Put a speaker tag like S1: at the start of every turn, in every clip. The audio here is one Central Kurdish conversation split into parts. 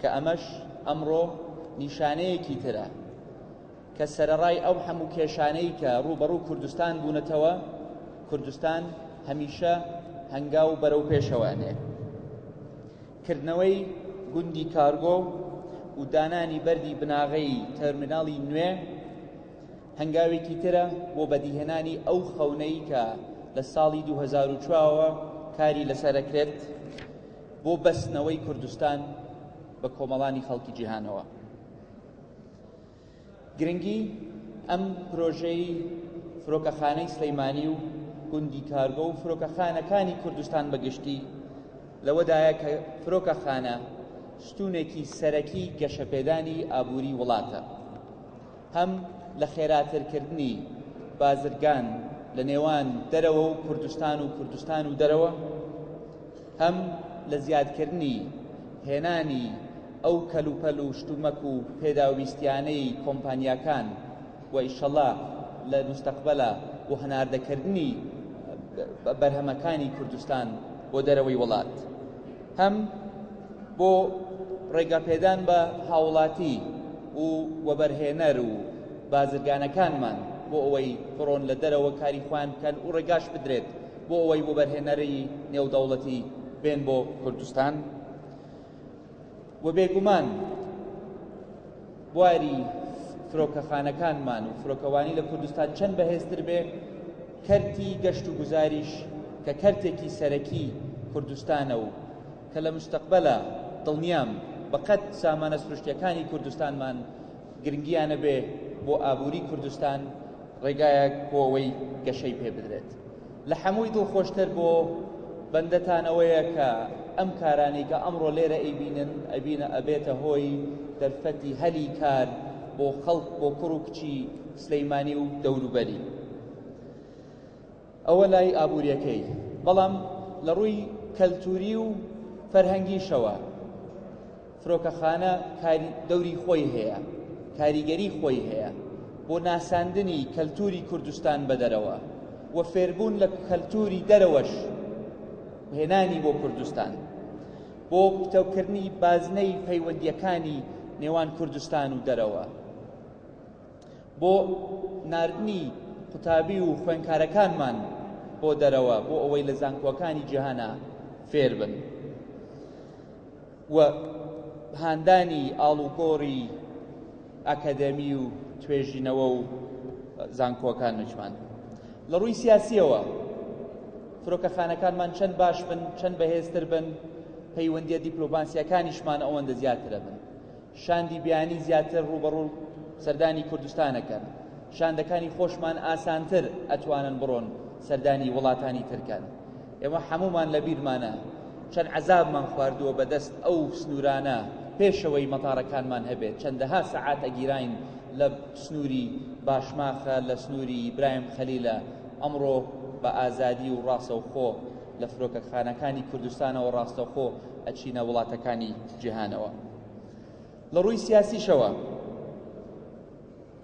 S1: کە ئەمەش ئەمڕۆ نیشانەیەکی ترە کە سەرەڕای ئەو هەموو کێشانەی کە ڕووبەڕوو کوردستان بوونەتەوە کوردستان هەمیشە هەنگاو بەرەو پێشەوەێ کردنەوەی گوندی کارگۆ و دانانی بەری بناغەی تەرمیناڵی نوێ هەنگاوێکی ترە بۆ بەدیهێنانی ئەو خەونەی کە لە ساڵی 2004ەوە کاری لەسەرەکرێت بۆ بەستنەوەی کوردستان بە کۆمەڵانی خەڵکی جیهانەوە گرنگی ئەم پرۆژەی فرۆکەخانەی سلەیمانی و گوندی کارگۆ و فرۆکەخانەکانی کوردستان بەگشتی لەوەدایە کە فرۆکەخانە ستونێکی سەرەکی گەشەپێدانی ئابووری وڵاتە هەم لە خێراترکردنی بازرگان لە نێوان دەرەوە و کوردستان و کوردستان و دەرەوە هەم لە زیادکردنی هێنانی ئەو کەلوپەل و شتومەک و پێداویستیانەی کۆمپانیاکان و ئیشەڵا لە مستەقبەلا و هەناردەکردنی بەرهەمەکانی کوردستان بۆ دەرەوەی وڵات هەم بۆ ڕێگاپێدان بە هاوڵاتی و وەبەرهێنەر و بازرگانەکانمان بۆ ئەوەی بڕۆن لە دەرەوە کاری خوان بکەن و ڕێگاش بدرێت بۆ ئەوەی وەبەرهێنەری نێودەوڵەتی بێن بۆ کوردستان و بێگومان بواری فرۆکەخانەکانمان و فرۆکەوانی لە کوردستان چەند بەهێزتر بێ کەرتی گەشت و گوزاریش کە کەرتێکی سەرەکی کوردستانە و کە لە مستەقبەلە دڵنیام بەقەت سامانە سروشتەکانی کوردستانمان گرنگیانە بێ بۆ ئابووری کوردستان ڕێگایەک بۆ ئەوەی گەشەی پێ بدرێت لە حەمووی دڵخۆشتر بۆ بەندەتان ئەوەیە کە ئەم کارانەی کە ئەمڕۆ لێرە ئەیبینن ئەبینە ئەبێتە هۆی دەرفەتی هەلی کار بۆ خەڵک بۆ کوڕ و کچی سلەیمانی و دەوروبەری ئەوە لای ئابووریەکەی بەڵام لە ڕووی کەلتوری و فەرهەنگیشەوە فرۆکەخانە کاری دەوری خۆی هەیە کاریگەری خۆی هەیە بۆ ناساندنی کەلتوری کوردستان بەدەرەوە و فێربوون لە کەلتوری دەرەوەش هێنانی بۆ کوردستان بۆ پتەوکردنی بازنەی پەیوەندیەکانی نێوان کوردستان و دەرەوە بۆ نردنی قوتابی و خوێنکارەکانمان بۆ دەرەوە بۆ ئەوەی لە زانکۆکانی جیهانە فێر بن. و هاندانی ئاڵوگۆڕی ئەکەدەمی و توێژینەوە و زانکۆکان نوچمان لە ڕووی سیاسیەوە فرۆکەخانەکانمان چەند باش بن چەند بەهێزتر بن پەیوەندیە دیپلۆماسیەکانیشمان ئەوەندە زیاترە بن شاندی بیانی زیاتر ڕوبەڕوو سەردانی کوردستانەکەن شاندەکانی خۆشمان ئاسانتر ئەتوانن بڕۆن سەردانی وڵاتانی ترکەن ئێمە حەموومان لە بیرمانە چەند عەزابمان خواردووە بەدەست ئەو سنوورانە پێشەوەی مەتارەکانمان هەبێت چەندەها سەعات ئەگیراین لە سنووری باشماخە لە سنووری برایم خەلیلە ئەمڕۆ بە ئازادی و ڕاستەوخۆ لە فرۆکەخانەکانی کوردستانەوە ڕاستەخۆ ئەچینە وڵاتەکانی جیهانەوە لە ڕووی سیاسیشەوە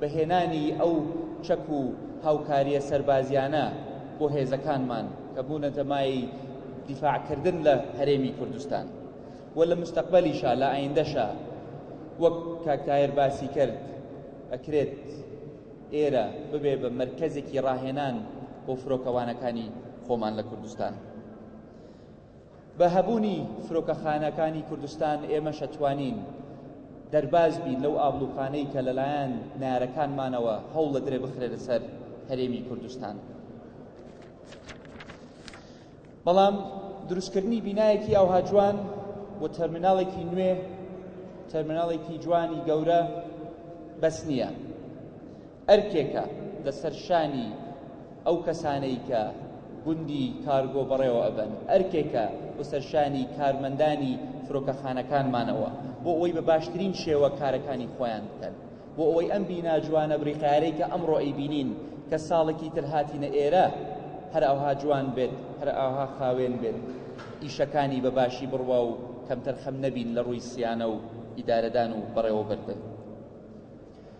S1: بە هێنانی ئەو چەک و هاوکارییە سەربازییانە بۆ هێزەکانمان کە بوونەتە مایەی دیفاعکردن لە هەرێمی کوردستان و لە مستەقبەلیشا لە ئایندەشا وەک کاک تاهر باسی کرد ئەکرێت ئێرە ببێ بە مرکزێکی ڕاهێنان بۆ فرۆکەوانەکانی خۆمان لە کوردستان بە هەبوونی فرۆکەخانەکانی کوردستان ئێمەش ئەتوانین دەرباز بین لەو ئابلوقانەی کە لەلایەن نارەکانمانەوە هەوڵ لە درێ بخرێنە سەر هەرێمی کوردستان. بەڵام دروستکردنی بینایەکی ئەوها جوان و تەرمیناڵێکی نوێ تەرمیناڵێکی جوانی گەورە بەس نییە ئەرکێکە لەسەر شانی ئەو کەسانەی کە گوندی کارگۆ بەڕێوە ئەبەن، ئەرکێکە لەسەر شانی کارمەندانی فرۆکەخانەکانمانەوە بۆ ئەوەی بە باشترین شێوە کارەکانی خۆیان بکەن، بۆ ئەوەی ئەم بینا جوانە بریقەیارەی کە ئەمڕۆ ئەیبینین کە ساڵێکی تر هاتینە ئێرە هەر ئەوها جوان بێت، هەر ئەوها خاوێن بێت، ئیشەکانی بە باشی بڕوا و کەمتەرخەم نەبین لە ڕووی سیانە و ئیدارەدان و بەڕێوەبردن.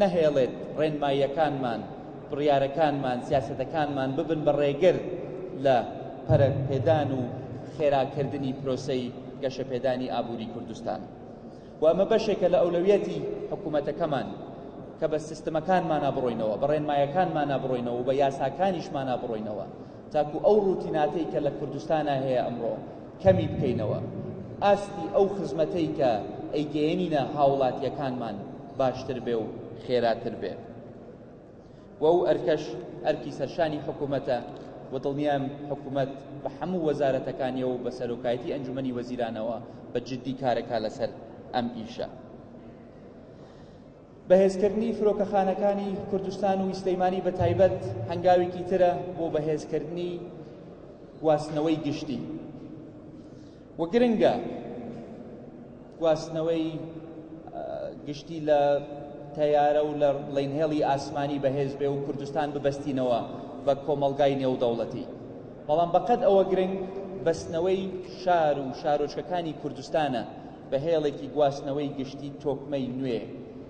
S1: نەهێڵێت ڕێنماییەکانمان، بڕیارەکانمان، سیاسەتەکانمان ببن بە ڕێگر لە پەرەپێدان و خێراکردنی پرۆسەی گەشەپێدانی ئابووری کوردستان و ئەمە بەشێکە لە ئەولەویەتی حکوومەتەکەمان کە بە سیستمەکانمانە بڕۆینەوە بە ڕێنمایەکانمانە بڕۆینەوە بە یاساکانیشمانە بڕۆینەوە تاکو ئەو ڕوتیناتەی کە لە کوردستانا هەیە ئەمڕۆ کەمی بکەینەوە ئاستی ئەو خزمەتەی کە ئەیگەیەنینە هاوڵاتیەکانمان باشتر بێ و خێراتر بێ و ئەو ئەرکەش ئەرکی سەرشانی حکوومەتە و دڵنیام حکوومەت بە هەموو وەزارەتەکانیەوە و بە سەرۆکایەتی ئەنجومنی وەزیرانەوە بە جددی کارەکە لەسەر ئەم ئیشە بەهێزکردنی فرۆکەخانەکانی کوردستان و سلەیمانی بە تایبەت هەنگاوێکی ترە بۆ بەهێزکردنی گواستنەوەی گشتی و گرنگە گواستنەوەی گشتی لە تەیارە و لە ڵینهێڵی ئاسمانی بەهێز بێ و کوردستان ببەستینەوە بە کۆمەلگای نێودەوڵەتی بەڵام بەقەد ئەوە گرنگ بەستنەوەی شار و شارۆچکەکانی کوردستانە بە هێڵێکی گواستنەوەی گشتی تۆکمەی نوێ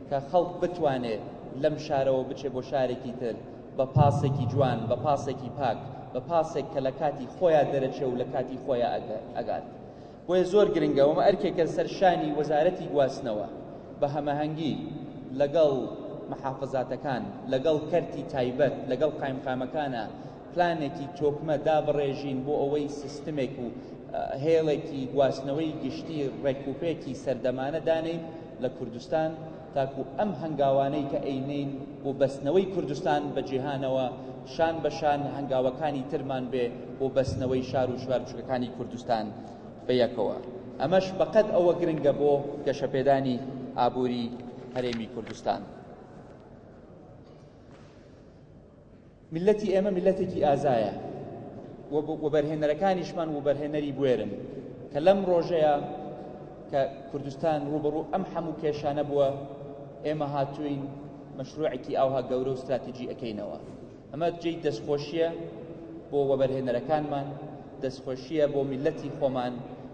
S1: کە خەڵک بتوانێت لەم شارەوە بچێ بۆ شارێکی تر بە پاسێکی جوان بە پاسێکی پاک بە پاسێک کە لە کاتی خۆیان دەرەچێ و لە کاتی خۆیان ئەگات بۆیە زۆر گرنگە ومە ئەرکێکە سەر شانی وەزارەتی گواستنەوە بە هەمەهەنگی لەگەڵ محافظاتەکان لەگەڵ کەرتی تایبەت لەگەڵ قایمقامەکانە پلانێکی تۆکمە دابڕێژین بۆ ئەوەی سیستمێک و هێڵێکی گواستنەوەی گشتی ڕێکوپێکی سەردەمانە دانێین لە کوردستان تاکو ئەم هەنگاوانەی کە ئەینین بۆ بەستنەوەی کوردستان بە جیهانەوە شان بە شان هەنگاوەکانی ترمان بێ بۆ بەستنەوەی شار و شوار بچووکەکانی کوردستان بە یەکەوە ئەمەش بەقەد ئەوە گرنگە بۆ گەشەپێدانی ئابووری هەرێمی کوردستان. میللەتی ئێمە میللەتێکی ئازایە و وەبەرهێنەرەکانیشمان وبەرهێنەری بوێرن کە لەم ڕۆژەیە کە کوردستان ڕوبڕوو ئەم هەموو کێشانە بووە ئێمە هاتوین مەشروعێکی ئاوها گەورە و استراتیجی ئەەکەینەوە ئەمە جێی دەستخۆشیە بۆ وەبەرهێنەرەکانمان دەستخۆشیە بۆ میلەتی خۆمان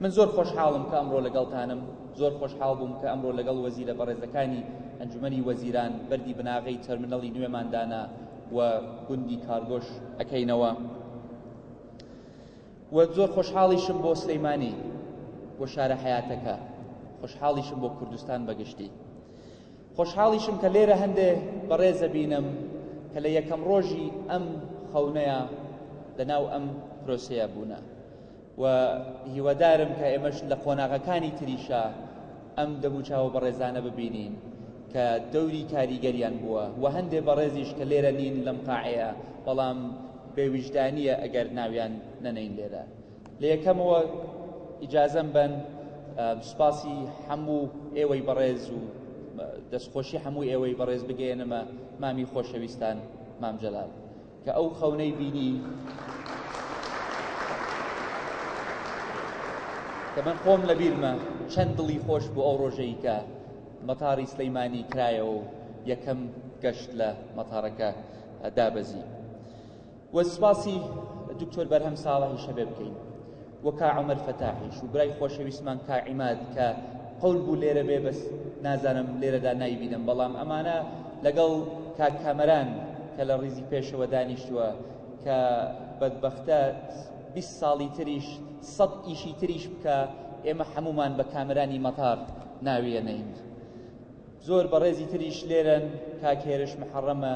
S1: من زۆر خۆشحاڵم کە ئەمڕۆ لەگەڵتانم، زۆر خۆشحاڵ بووم کە ئەمڕۆ لەگەڵ وەزیرە بەڕێزەکانی ئەنجومەنی وەزیران بەردی بناغەی تەرمنەڵی نوێمان دانا و گوندی کارگۆش ئەکەینەوە و زۆر خۆشحاڵیشم بۆ سلەیمانی بۆ شارە حیاتەکە خۆشحاڵیشم بۆ کوردستان بەگشتی خۆشحاڵیشم کە لێرە هەندێ بەڕێزە بینم کە لە یەکەم ڕۆژی ئەم خەونەیە لەناو ئەم پرۆسەیە بوونە و هیوادارم کە ئێمەش لە قۆناغەکانی تریشا ئەم دەموچاوە بەڕێزانە ببینین کە دەوری کاریگەریان بووە و هەندێ بەڕێزیش کە لێرە نین لەم قاعەیە بەڵام بێویژدانیە ئەگەر ناویان نەنین لێرە لە یەکەمەوە ئیجازەم بن سوپاسی هەموو ئێوەی بەڕێز و دەستخۆشی هەموو ئێوەی بەڕێز بگەێنمە مامی خۆشەویستان مام جەلال کە ئەو خەونەی بینی کە من خۆم لە بیرمە چەند دڵی خۆش بۆ ئەو ڕۆژەی کە مەتاری سلەیمانی کرایەوە و یەکەم گەشت لە مەتارەکە دابەزی وە سپاسی دکتۆر بەرهەم ساڵحی شەبێ بکەین و کا عومەر فەتاحیش و برای خۆشەویستمان کا عیماد کە قەول بوو لێرە بێ بەس نازانم لێرەدا ناوی بینم بەڵام ئەمانە لەگەڵ کاک کامەران کە لە ڕیزی پێشەوە دانیشتووە کە بەدبەختە بیست ساڵی تریش سەد ئیشی تریش بکە ئێمە هەمومان بە کامرانی مەتار ناویەنین زۆر بەڕێزی تریش لێرەن کاکێرش محەڕەمە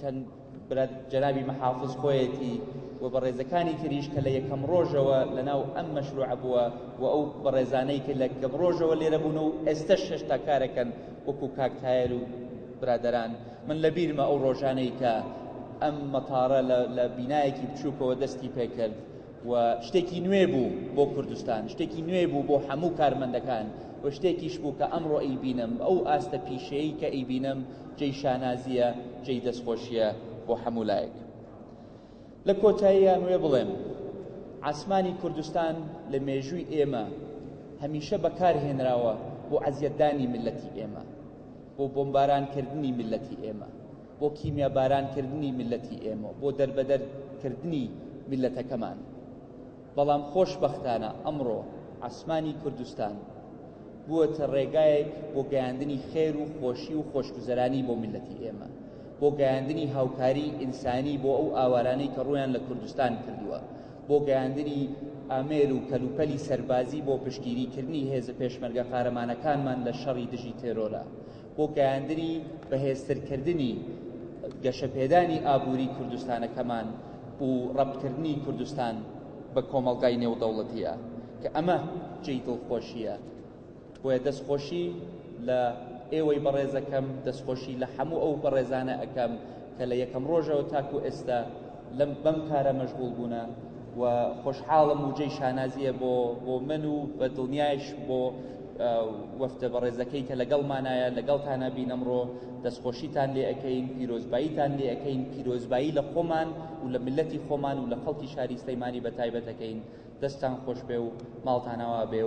S1: چەند برا جەنابی محافظ خۆیەتی و بەڕێزەکانی تریش کە لە یەکەم ڕۆژەوە لەناو ئەم مەشروع بووە و ئەو بەڕێزانەی کە لە گەم ڕۆژەوە لێرە بوون و ئێستا شێشتا کارەکەن وەکو کاکتایەر و برادران من لە بیرمە ئەو ڕۆژانەی کە ئەم مەتارە لە بینایەکی بچووکەوە دەستی پێکرد و شتێکی نوێ بوو بۆ کوردستان شتێکی نوێ بوو بۆ هەموو کارمەندەکان و شتێکیش بوو کە ئەمڕۆ ئەیبینم ئەو ئاستە پیشەیە کە ئەیبینم جێی شانازیە جێی دەستخۆشیە بۆ هەموو لایەک لە کۆتاییان وێ بڵێم ئاسمانی کوردستان لە مێژووی ئێمە هەمیشە بەکارهێنراوە بۆ عەزیەتدانی ملەتی ئێمە بۆ بۆمبارانکردنی ملەتی ئێمە بۆ کیمیاباران کردنی میللەتی ئێمە بۆ دەربەدەر کردنی میللەتەکەمان بەڵام خۆشبەختانە ئەمڕۆ عسمانی کوردستان بووەتە ڕێگایەک بۆ گەیاندنی خێر و خۆشی و خۆشگوزەرانی بۆ میلەتی ئێمە بۆ گەیاندنی هاوکاری ئینسانی بۆ ئەو ئاوارانەی کە ڕویان لە کوردستان کردووە بۆ گەیاندنی ئامێر و کەلوپەلی سەربازی بۆ پشتگیریکردنی هێزە پێشمەرگە قارەمانەکانمان لە شەڕی دژی تێرۆرە بۆ گەیاندنی بەهێزترکردنی گەشەپێدانی ئابووری کوردستانەکەمان و ڕەپکردنی کوردستان بە کۆمەڵگای نێودەوڵەتیە کە ئەمە جێی دڵخۆشیە بۆیە دەستخۆشی لە ئێوەی بەڕێزەکەم دەستخۆشی لە هەموو ئەو بەڕێزانە ئەەکەم کە لە یەکەم ڕۆژەوە تاکو ئێستا لەم بەم کارە مەشغول بوونە و خۆشحاڵم و جێی شانازیە بۆ بۆ من و بە دڵنیایش بۆ وەفتە بەڕێزەکەی کە لەگەڵمانایە لەگەڵتانە بینەمڕۆ دەستخۆشیتان لێ ئەەکەین پیرۆزباییتان لێ ئەەکەین پیرۆزبایی لە خۆمان و لە ملەتی خۆمان و لە خەڵکی شاری سلەیمانی بە تایبەتەکەین دەستان خۆش بێ و ماڵتانەوە بێ و